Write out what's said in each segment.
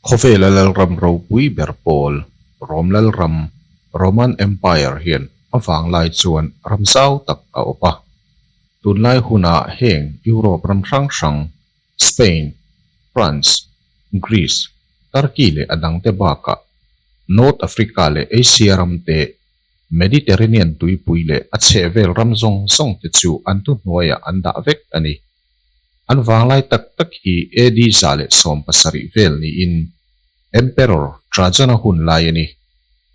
Khawvela Lalram ropui ber pawl, Rom Lalram, Roman Empire, hian a vanglai chuan ram zau tak a awp a. Tunlai hunah heng Europe ram hrang hrang Spain, France, Greece, Turkey leh a dangte bakah, North Africa leh Asia ram te, Mediterranean tuipui leh a chhehvel ram zawng zawng te chu an thu hnuaiah an dah vek a ni. An vanglai tak tak hi AD zah leh sawm pasarih vel niin Emperor Trajan-a hun lai a ni.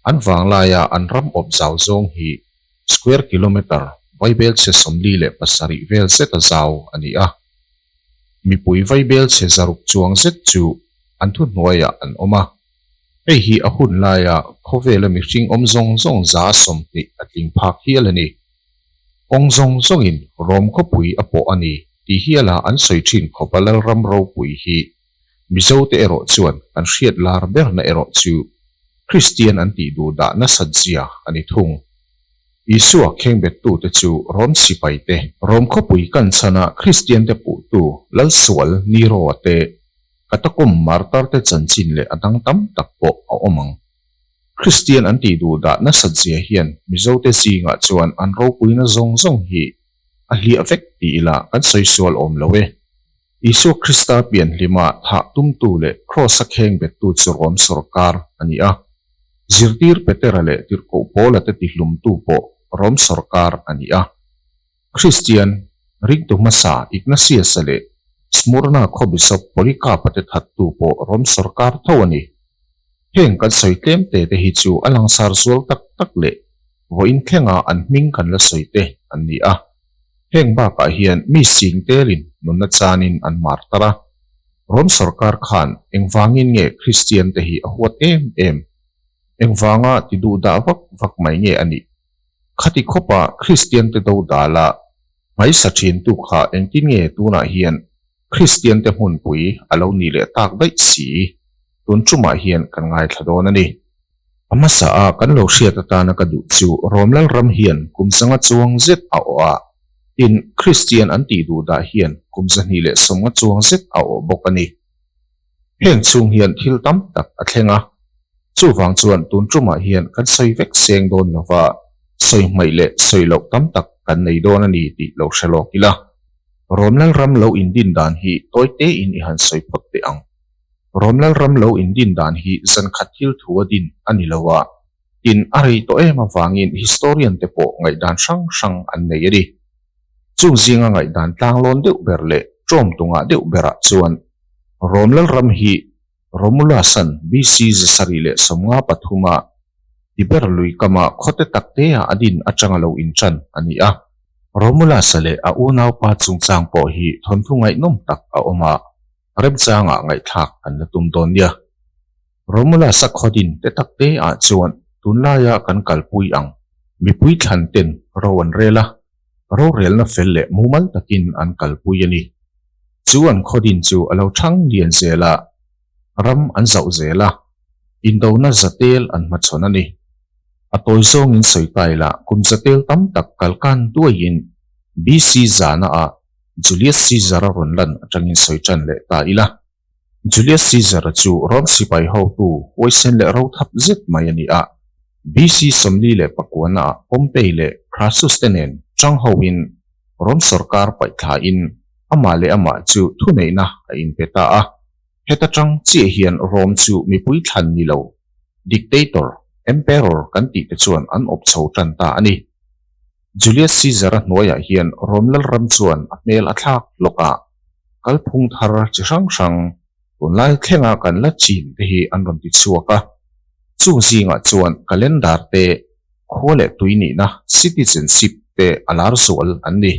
An vanglaia an ram awp zau zawng hi square kilometre, vaibelchhe sawmli leh pasarih vel zeta zau a ni a. Mipui vaibelchhe zaruk chuang zet chu an thuhnuaiah an awm a, hei hi a hun laia khawvela mihring awm zawng zawng za sawm hnih a tling phak hial a ni. Kawng zawng zawngin Rome khawpui a pawh a ni tih hiala an sawi thin khawpa Lalram ropui hi Mizote erawh chuan kan hriat lar berna erawh chu Kristian an tih duh dah nasat zia a ni thung. Isua khengbettute chu Rom sipaite, Rom khawpui kanchhana Kristiante puhtu lalsual Niroa te, Katakom martarte chanchin leh a dang tam tak pawh a awm ang. Kristian an tih duh dah nasat zia hian Mizote zingah chuan an ropuina zawng zawng hi a hliah vek tih ila kan sawi sual awm lo e. Isua Krista pianhlima thah tumtu leh Kraws a kheng bettu chu Rome sawrkar a ni a. Zirtir Petera leh tirhkoh pawla te tihlumtu pawh Rome sawrkar a ni a. Kristian ringtu hmasa Ignasiasa leh Smurna khaw Bisop Polycarpa te thattu pawh Rome sawrkar tho a ni. Heng kan sawi tlem te te hi chu a langsar zual tak tak leh vawiin thlenga an hming kan la sawi te an ni a. Heng bakah hian mi sing telin nunna chanin an mar tar a, Rome sorkar khan engvangin nge Kristian te hi a huat em em? Engvanga ti duh dah vak vak mai nge a nih? Khati khawpa Kristian te do dala hmaisa thintu kha engtin nge tunah hian Kristiante hmunpui a lo ni leh tak daih si i, tun ṭumah hian kan ngaithla dawn a ni. A hmasa a kan lo hriat atana ka duh chu, Rom Lalram hian kum zanga chuang zet a awh a, tin, Kristian an tih duh dah hian kum zahnih leh sawmnga chuang zet a awh bawk a ni. Heng chhung hian thil tam tak a thleng a, chuvang chuan tun tumah hian kan sawi vek seng dawn lova, sawi hmaih leh sawi loh tam tak kan nei dawn a ni tih lo hre lawk ila. Rawm Lalram lo indin dan hi tawi tein i han sawi phawt teh ang. Rawm Lalram lo indin dan hi zankhat thil thu a din a ni lo a. Tin, a rei tawh em avangin historian te pawh ngaihdan hrang hrang an nei a ni. Chung zinga ngaihdan tlanglawn deuh ber leh ṭawm tunga deuh berah chuan Rome lalram hi Romulus-a'n BC zasarih leh sawmnga pathuma Tiber lui kama khawte taktea a din aṭanga lo inṭan a ni a. Romulus-a leh a unaupa chungchang pawh hi thawnthu ngaihnawm tak a awm a. rep changah ngaihthlak kan la tum dawn nia. Romula Sakhaudin te takte ah chuan tunlaia kan kalpui ang mipui thlan ten ro an rel a, rorelna fel leh mumal takin an kalpui a ni. Chu an khaudin chu a lo thang lian zel a, ram an zauh zel a, indona zatel an hmachhawn a ni. A tawi zawngin sawi tile kum zatel tam tak kalkan duaiin BC zana ah Julius Caesar-a rawn lan atangin sawi tan leh ta ila. Julius Caesar-a chu Rome sipai hotu huaisen leh rothap zet mai a ni a. BC. sawmli leh pakuanaah Pompey leh Crassus-te nen chang hoin Rome sawrkar paihthlahin amah leh amah chu thuneihna a inpe ta a. Heta chang chiah hian Rome chu mipui thlan ni lo dictator, emperor kan tih te chuan an awp chho tan ta a ni. Julius Caesar-a hnuaiah hian Rome Lalram chuan a hmel a thlak lawkah kalphung thar chi hrang hrang tunlai thlenga kan la chin te hi an rawn ti chhuak a, chung zingah chuan calendar te, khua leh tui nihna, citizenship, te a lar zual an ni.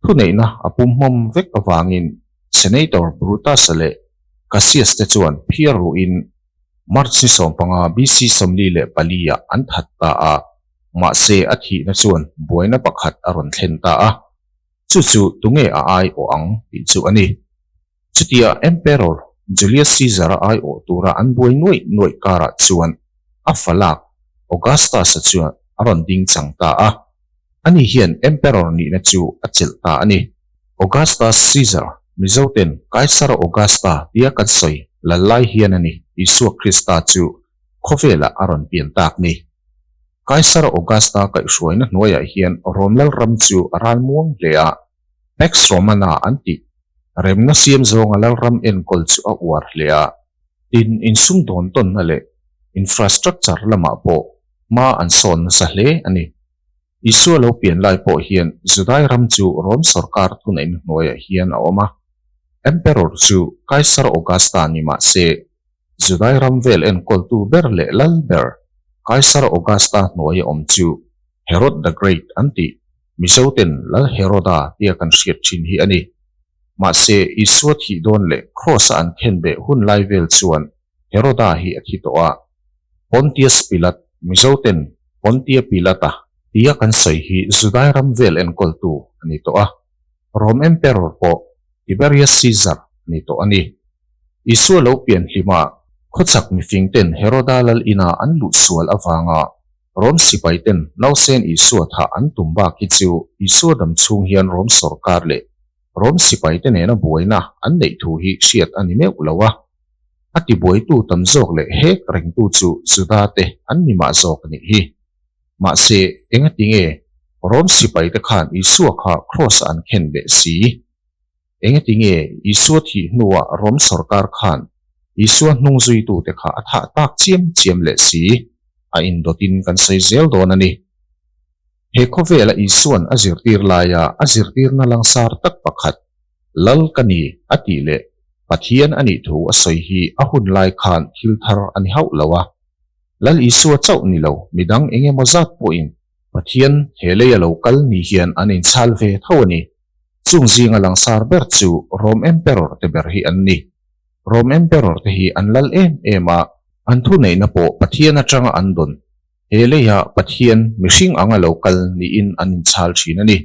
Thuneihna a pum hmawm vek avangin Senator Brutus-a leh Cassius te chuan phiar ruhin March ni sawmpanga BC sawmli leh pali-ah an that ta a, mahse a thihna chuan buaina pakhat a rawn thlen ta a, chu chu tunge a ai awh ang tih chu a ni. Chutia Emperor Julius Caesar a ai awh tura an buai nuaih nuaih karah chuan a fa lak Augustus-a chuan a rawn ding chang ta a, ani hian Emperor nihna chu a chelh ta a ni. Augustus Caesar, Mizoten Kaisara Augusta tia kan sawi lal lai hian a ni, Isua Krista chu khawvelah a rawn pian tak ni. Kaisar Augusta kaihhruaina hnuaiah hian Rome lal ram chu a ral muang hle a, Pax Romana an tih remna siam zawnga lal ram enkawl chu a uar hle a, tin insum dawn tawnna leh infrastructure lamah pawh hma an sawn nasa hle a ni. Isua lo pian lai pawh hian Judai ram chu Rome sawrkar thuneihna hnuaiah hian a awm a. Emperor chu Kaisar Augusta a ni mah se, Judai ram vel enkawltu ber leh lal ber Kaisar Augusta hnuaia awm chu Herod the Great an ti. Mizo ten Lal Heroda tia kan hriat thin hi a ni. Mahse, Isua thih dawn leh Kraws-a an khenbeh hun lai vel chuan Heroda hi a thi tawh a, Pontius Pilat, Mizoten, Pontia Pilata, tia kan sawi hi Judai ram vel enkawltu a ni tawh a, Rome Emperor pawh Tiberius Caesar a ni tawh a ni. Isua lo pianhlimah khawchhak mifingten Heroda lal ina an luh sual avanga Rome sipaiten nausen Isua thah an tum bak hi chu Isua dam chhung hian Rome sorkar leh Rome sipaite nena buaina an neih thu hi hriat a ni meuh lo a. A tibuaitu tam zawk leh hek rengtu chu Judate an ni mah zawk a nih hi. Mahse, engati nge Rome sipaite khan Isua kha Kraws-ah an khen leh si? Engati nge Isua thih hnua Rome sorkar khan Isua hnungzuitute kha a thah tak chiam chiam leh si? A indawtin kan sawi zel dawn a ni. He khawvela Isua'n a zirtir laia a zirtirna langsar tak pakhat, Lal ka ni, a tih leh Pathian a nih thu a sawi hi a hun lai khan thil thar a ni hauh lo a. Lal Isua chauh ni lo, midang eng emaw zat pawhin, Pathian he lei a lo kal ni hian an inchhal ve tho a ni, chung zinga langsar ber chu Rome Emperor te ber hi an ni. Rome Emperor te hi an lal em em a, an thuneihna pawh Pathian atanga an dawn. He leiah Pathian mihring anga lo kal niin an inchhal thin a ni.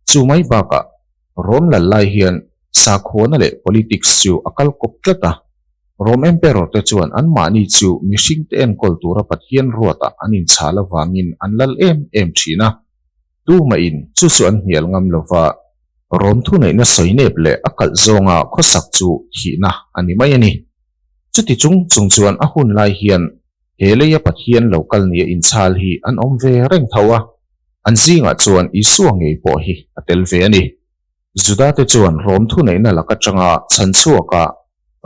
Chu mai bakah, Rome lallai hian sakhuana leh politics chu a kal kawp tlat a. Rome Emperor te chuan anmahni chu mihringte enkawl tura Pathian ruatah an inchhal avangin an lal em em thin a. tumahin chu chu an hnial ngam lo va, rawm thuneihna sawi nep leh a kalh zawnga khawsak chu thihna a ni mai a ni. Chuti chung chung chuan a hun lai hian he leia Pathian lo kal nia inchhal hi an awm ve reng tho a, an zingah chuan Isua ngei pawh hi a tel ve a ni. Judate chuan rawm thuneihna lak atanga chhan chhuakah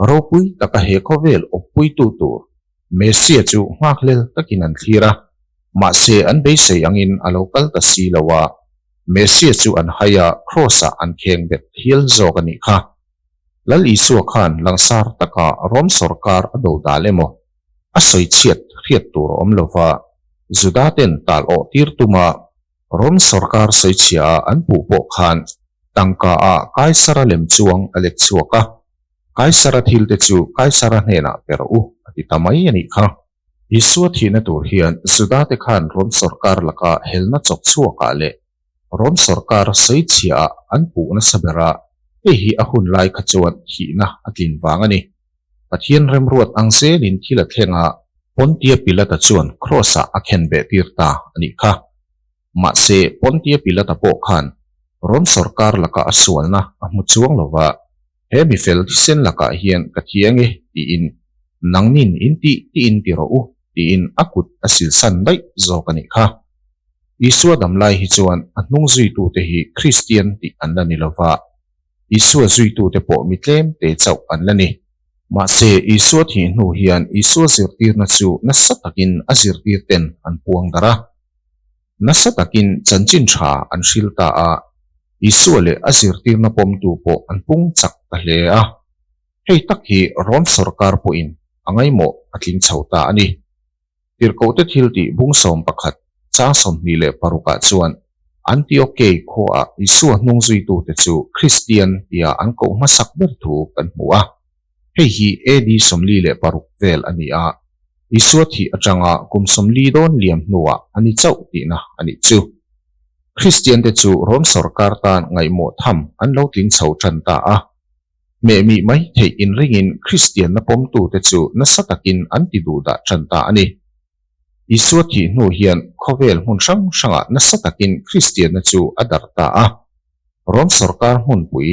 ropui taka he khawvel awppuitu tur Messia chu nghakhlel takin an thlir a, mahse an beisei angin a lo kal ta si lo a, Messia chu an hai a, Kraws-ah an kheng bet hial zawk a nih kha. Lal Isua khan langsar taka Rom sorkar a do dal emaw a sawi chhiat hriat tur a awm lova Judaten tal awh tir tumah, Rom sorkar sawichhia ah an puh pawh khan tangka ah Kaisara lem chuang a let chhuak a, Kaisara thil te chu Kaisara hnenah per u a ti ta mai a nih kha. Isua thihna tur hian Juda te khan Rom sorkar laka helna chawk chhuak ah leh Rom sorkar sawichhia ah an puh nasa ber a, hei hi a hun lai kha chuan thihna a tlin vang a ni. Pathian remruat ang zelin thil a thleng a, Pontia Pilata chuan Kraws-ah a khen behtir ta a nih kha. Mahse, Pontia Pilata pawh khan Rom sawrkar laka a sualna a hmu chuang lo va, He mi fel thisen lakah hian ka thi ang e, tiin nangnin in ti tiin ti rawh u, tiin a kut a silsan daih zawk a nih kha. Isua damlai hi chuan a hnungzuitute hi Kristian tih an la ni lo va, Isua zuitute pawh mi tlemte chauh an la ni. Mahse, Isua thih hnu hian Isua zirtirna chu nasa takin a zirtirten an puangdar a. Nasa takin chanchin tha an hril ta a, Isua leh a zirtirna pawmtu pawh an pung chak ta hle a. Hei tak hi Rome sorkar pawhin a ngaimawh a tling chho ta a ni. Tirhkohte thil tih bung sawm pakhat, chang sawmhnih leh parukah chuan Antiochei khuaah Isua hnung zuitute chu Kristian tia an koh hmasak ber thu kan hmu a. Hei hi AD sawmli leh paruk vel a ni a, Isua thih atanga kum sawmli dawn liam hnuah a ni chauh tihna a nih chu. Kristiante chu Rom sorkar tan ngaihmawh tham an lo tling chho ṭan ta a. Meh mi mai theih in ringin Kristianna pawmtute chu nasa takin an ti duh dah ṭan ta a ni. Isua thih hnu hian khawvel hmun hrang hrangah nasa takin Kristianna chu a dar ta a. Rom sawrkar hmunpui,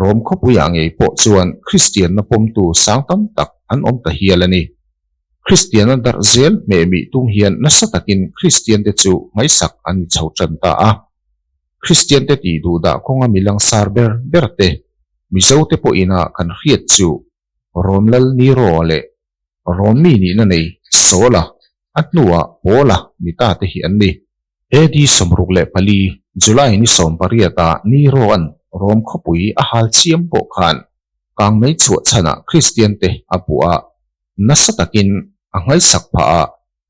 Rom khawpuiah ngei pawh chuan Kristianna pawmtu sang tam tak an awm ta hial a ni. Kristianna darh zel meh mi tum hian nasa takin Kristiante chu hmaisak an ni chho ṭan ta a. Kristiante tih duh dah kawnga mi langsar ber ber te, Mizo te pawh ina kan hriat chu Rom lal Nero leh Rom mi nihna nei Saula a hnua Paula mi ta te hi an ni. AD sawmruk leh pali, July ni sawm pariat a Nero-a'n Rom khawpui a hal chiam pawh khan kang mei chhuah chhan ah Kristiante a buah a, nasa takin a nghaisak phah a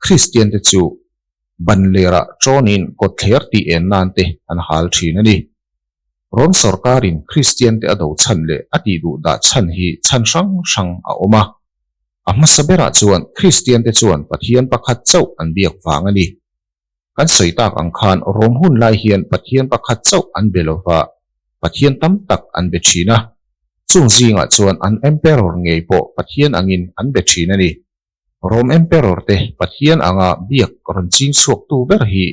Kristiante chu ban lerah ṭawnin kawtthler tih en nan te an hal ṭhin a ni. Rom sorkarin Kristiante a do chhan leh a tih duh dah chhan hi chhan hrang hrang a awm a. A hmasa berah chuan Kristiante chuan Pathian pakhat chauh an biak vang a ni. Kan sawi tak ang khan Rom hun lai hian Pathian pakhat chauh an be lo va, Pathian tam tak an be ṭhin a. Chung zingah chuan an Emperor ngei pawh Pathian angin an be ṭhin a ni. Rome Emperor te Pathian anga biak rawn ching chhuaktu ber hi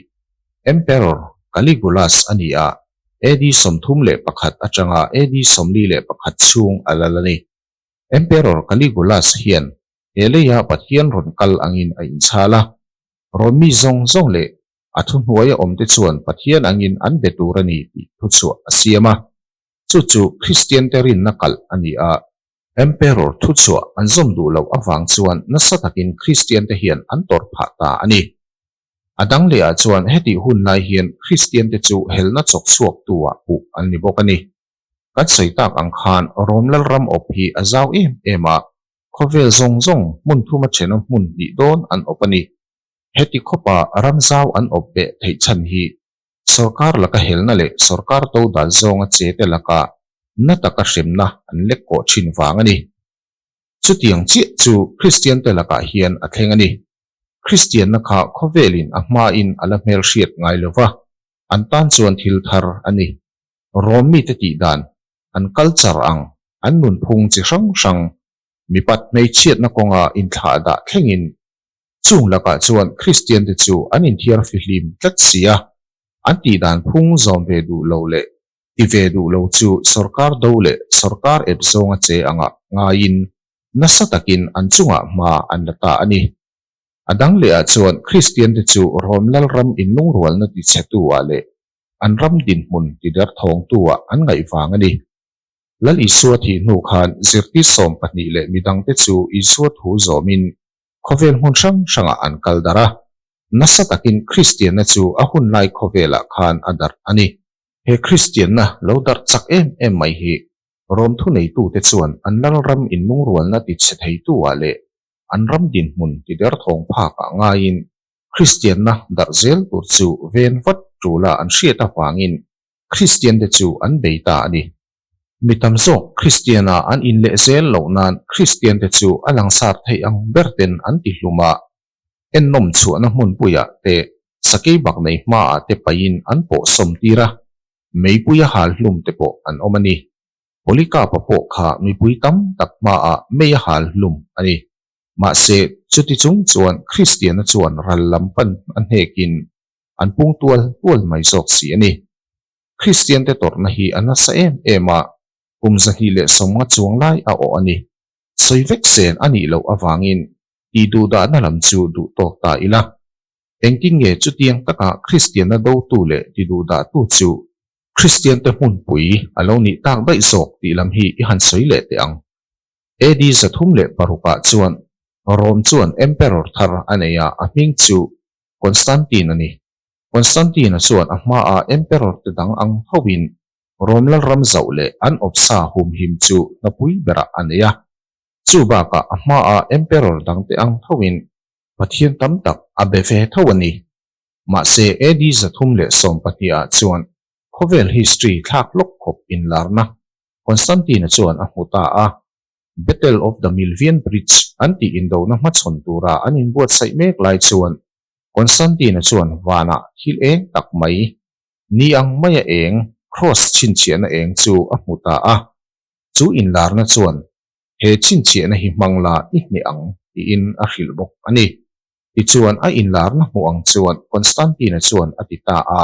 Emperor Caligulus a ni a, AD sawmthum leh pakhat atanga AD sawmli leh pakhat chhung a lal a ni. Emperor Caligulus hian he leia Pathian rawn kal angin a inchhal a, Rome mi zawng zawng leh a thu hnuaia awmte chuan Pathian angin an be tur a ni tih thuchhuah a siam a, chu chu Kristiante rinna kalh a ni a, Emperor thu chhuah an zawm duh loh avang chuan nasa takin Kristian te hian an tawrh phah ta a ni. A dang leh ah chuan heti hun lai hian Kristian te chu helna chawk chhuak tu ah puh an ni bawk a ni. Kan sawi tak ang khan Rome lalram awp hi a zau em em a, khawvel zawng zawng hmun thum a thena hmun hnih dawn an awp a ni. Heti khawpa ram zau an awp ve theih chhan hi Sorkar laka helna leh sorkar to dan zawnga che te laka na taka hremna an lek kawh thin vang a ni. Chutiang chiah chu Kristian te lakah hian a thleng a ni. Kristianna kha khawvelin a hmain a la hmelhriat ngai lo va, an tan chuan thil thar a ni. Rom mite tih dan, an culture ang, an nunphung chi hrang hrang, mipat hmeichhiatna kawnga inthlahdah thlengin Chung lakah chuan Kristiante chu an inthiar fihlim tlat si a, an tih dan phung zawm ve duh lo leh ti ve duh lo chu sorkar do leh sorkar ep zawnga che angah ngaiin nasa takin an chungah hma an la ta a ni. A dang lehah chuan Kristiante chu Rome lalram inlungrualna ti chhetuah leh an ram dinhmun ti derthawngtuah an ngaih vang a ni. Lal Isua thih hnu khan zirtir sawm pahnih leh mi dangte chu Isua thu zawmin khawvel hmun hrang hrangah an kal dar a. Nasa takin Kristianna chu a hun lai khawvelah khan a darh a ni. He Kristianna lo darh chak em em mai hi Rom thuneitute chuan an Lalram inlungrualna ti chhe theitu-ah leh an ram dinhmun ti der thawng phakah ngaiin Kristianna darh zel tur chu ven vat ṭula an hriat avangin Kristiante chu an bei ta a ni. Mi tam zawk Kristiana an inleh zel loh nan Kristiante chu a langsar theih ang berten an ti hlum a, ennawm chhuahna hmunpuiah te, sakei bak nei hmaah te paiin an pawh sawmtir a, meipui a hal hlum te pawh an awm a ni. Polycarp-a pawh kha mipui tam tak hmaah mei a hal hlum a ni. Mahse, chuti chung chuan Kristiana chuan ral lam pan a hnekin an pung tual tual mai zawk si a ni. Kristiante tawrhna hi a nasa em em a, kum zahnih leh sawmnga chuang lai a awh a ni. Sawi vek zen a nih loh avangin tih duh dahna lam chu duh tawk ta ila. Engtin nge chutiang takah Kristianna dotu leh ti duh dahtu chu Kristiante hmunpui a lo nih tak daih zawk tih lam hi i han sawi leh teh ang? AD zathum leh paruk ah chuan Rome chuan Emperor thar a nei a, a hming chu Constantine a ni. Constantine-a chuan a hmaa Emperor-te dang ang thoin Rome Lalram zauh leh an awpsa humhim chu hnapui berah a nei a. Chu bakah a hmaa Emperor dangte ang thoin Pathian tam tak a be ve tho a ni. Mahse, AD zathum leh sawm pahniha chuan khawvel history thlak lawk khawp inlarna Constantine-a chuan a hmu ta a. Battle of the Milvian Bridge an tih indohna hmachhawn tura an inbuatsaih mek lai chuan Constantine-a chuan vana thil eng tak mai, ni ang maia eng, cross chhinchhiahna eng chu a hmu ta a. Chu inlarna chuan he chhinchhiahna hi hmang la i hne ang tiin a hrilh bawk a ni. Tichuan a inlarna hmuh ang chuan Constantine-a chuan a ti ta a,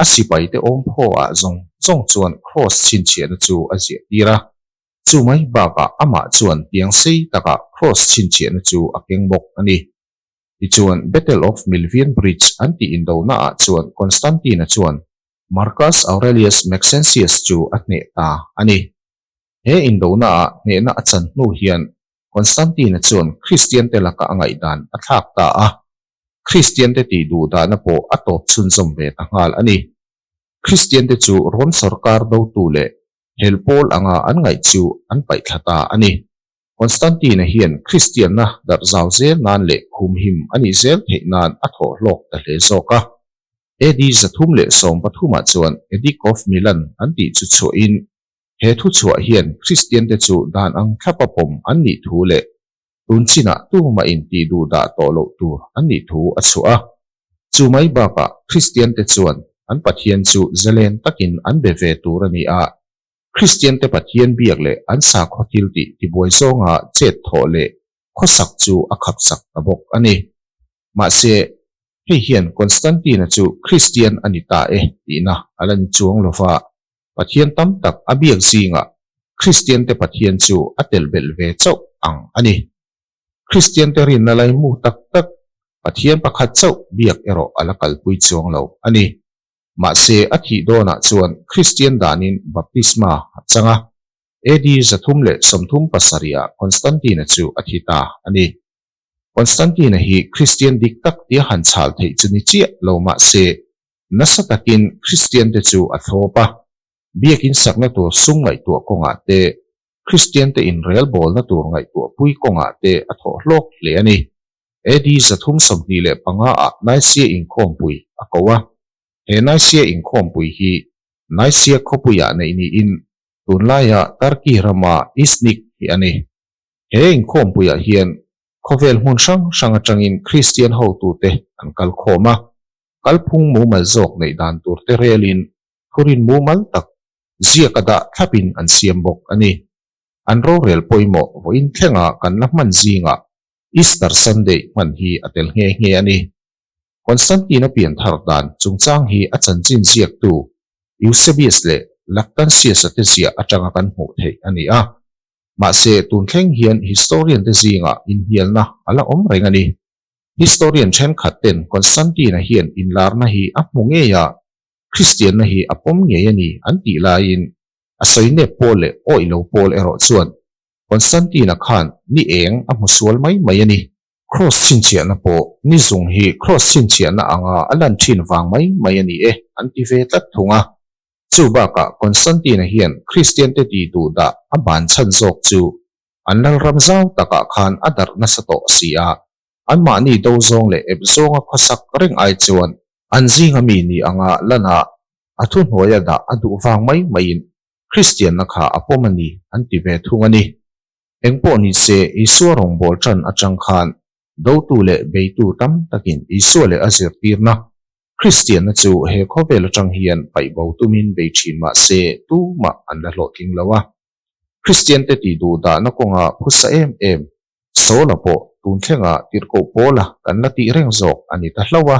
a sipaite awmphaw ah zawng zawng chuan cross chhinchhiahna chu a ziah tir a, Chumai bakah amah chuan tiang sei takah kraws chhinchhiahna chu a keng bawk a ni. Tichuan, Battle of Milvian Bridge an tih indonaah chuan Constantine-a chuan Marcus Aurelius Maxentius chu a hneh ta a ni. He indonaah hnehna a chan hnu hian Constantine-a chuan Kristiante laka a ngaihdan a thlak ta a, Kristiante tih duh dahna pawh a tawp chhunzawm ve ta nghal a ni. Kristiante chu Rom sorkar dotu leh hel pawl anga an ngaih chu an paih thla ta a ni. Constantine-a hian Kristianna darh zau zel nan leh humhim a nih zel theih nan a thawh hlawk ta hle zawk a. AD za thum leh sawm pathumah chuan Edict of Milan an tih chu chhuahin, he thuchhuah hian Kristiante chu dan ang thlapa pawm an nih thu leh tun chinah tuma inti duh dah tawh loh tur an nih thu a chhuah a. Chu mai bakah Kristiante chuan an Pathian chu zelen takin an be ve tur a ni a. Kristiante Pathian biak leh an sa khaw thil tih tibuai zawnga chet thawh leh khawsak chu a khakchak ta bawk a ni. Mahse, hei hian Constantine-a chu Kristian a ni ta e tihna a la ni chuang lo va, Pathian tam tak a biak zingah Kristiante Pathian chu a tel belh ve chauh ang a ni. Kristiante rinna laimu tak tak Pathian pakhat chauh biak erawh a la kalpui chuang lo a ni. Mahse, a thih dawnah chuan Kristian danin baptisma a chang a. AD za thum leh sawmthum pasariaah Constantine-a chu a thi ta a ni. Constantine-a hi Kristian dik tak tia han chhal theih chu ni chiah lo mahse, Nasa takin Kristiante chu a thlawp a, biakin sakna tur sung ngaihtuah kawngah te, Kristiante inrel bawlna tur ngaihtuah pui kawngah te a thawh hlawk hle a ni. AD zathum sawmhnih leh panga ah Nicaea inkhawmpui a ko a. He Nicaea inkhawmpui hi Nicaea khawpui ah neih niin tunlai ah Turkey rama Iznik hi a ni. He inkhawmpuiah hian Khawvel hmun hrang hrang atangin Kristian hotute an kal khawm a, kalphung mumal zawk neih dan turte relin thurin mumal tak ziak a dah thlapin an siam bawk a ni. An rorel pawimawh vawiin thlengah kan la hman zingah Easter Sunday hman hi a tel nghe nghe a ni. Constantine-a pianthar dan chungchang hi a chanchin ziaktu Eusebius leh Lactantius-a te ziah atanga kan hmuh theih a ni a. Mahse, tun thleng hian historian-te zinga inhnialna a la awm reng a ni. Historian thenkhat ten Constantine-a hian inlarna hi a hmu ngei a, Kristianna hi a pawm ngei a ni an tih laiin, a sawi nep pawl leh awih lo pawl erawh chuan Constantine-a khan ni eng a hmu sual mai mai a ni. Kraws chhinchhiahna pawh ni zung hi kraws chhinchhiahna anga a lan thin vang mai mai a ni e an ti ve tlat thung a. Chu bakah Constantine-a hian Kristiante tih duh dah a ban chhan zawk chu an lalram zau takah khan a darh nasa tawh a si a, anmahni do zawng leh ep zawnga khawsak reng ai chuan an zinga mi ni anga lanah a thuhnuaia dah a duh vang mai maiin Kristianna kha a pawm a ni an ti ve thung a ni. Eng pawh ni se, Isua rawngbâwl ṭan aṭang khân, dotu leh beitu tam takin Isua leh a zirtîrna Kristianna chu he khawvêl aṭang hian paih bo tumin bei ṭhîn mah se, tumah an la hlawhtling lo a. Kristiante tih duh dahna kawnga phusa êm êm Saula pawh tûn thlenga tirhkoh pâwla kan la tih reng zâwk a ni ta hlauh a.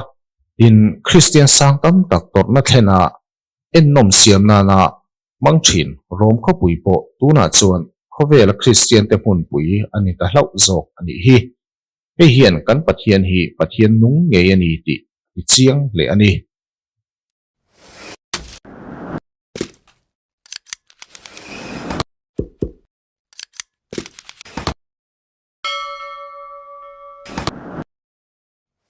Tin, Kristian sâng tam tak tawrhna thlenah Ennawm siam nana hmang thin rawm khawpui pawh tunah chuan khawvela Kristiante hmunpui a ni ta hlauh zawk a nih hi. Hei hian kan Pathian hi Pathian nung ngei a ni tih a ti chiang hle a ni.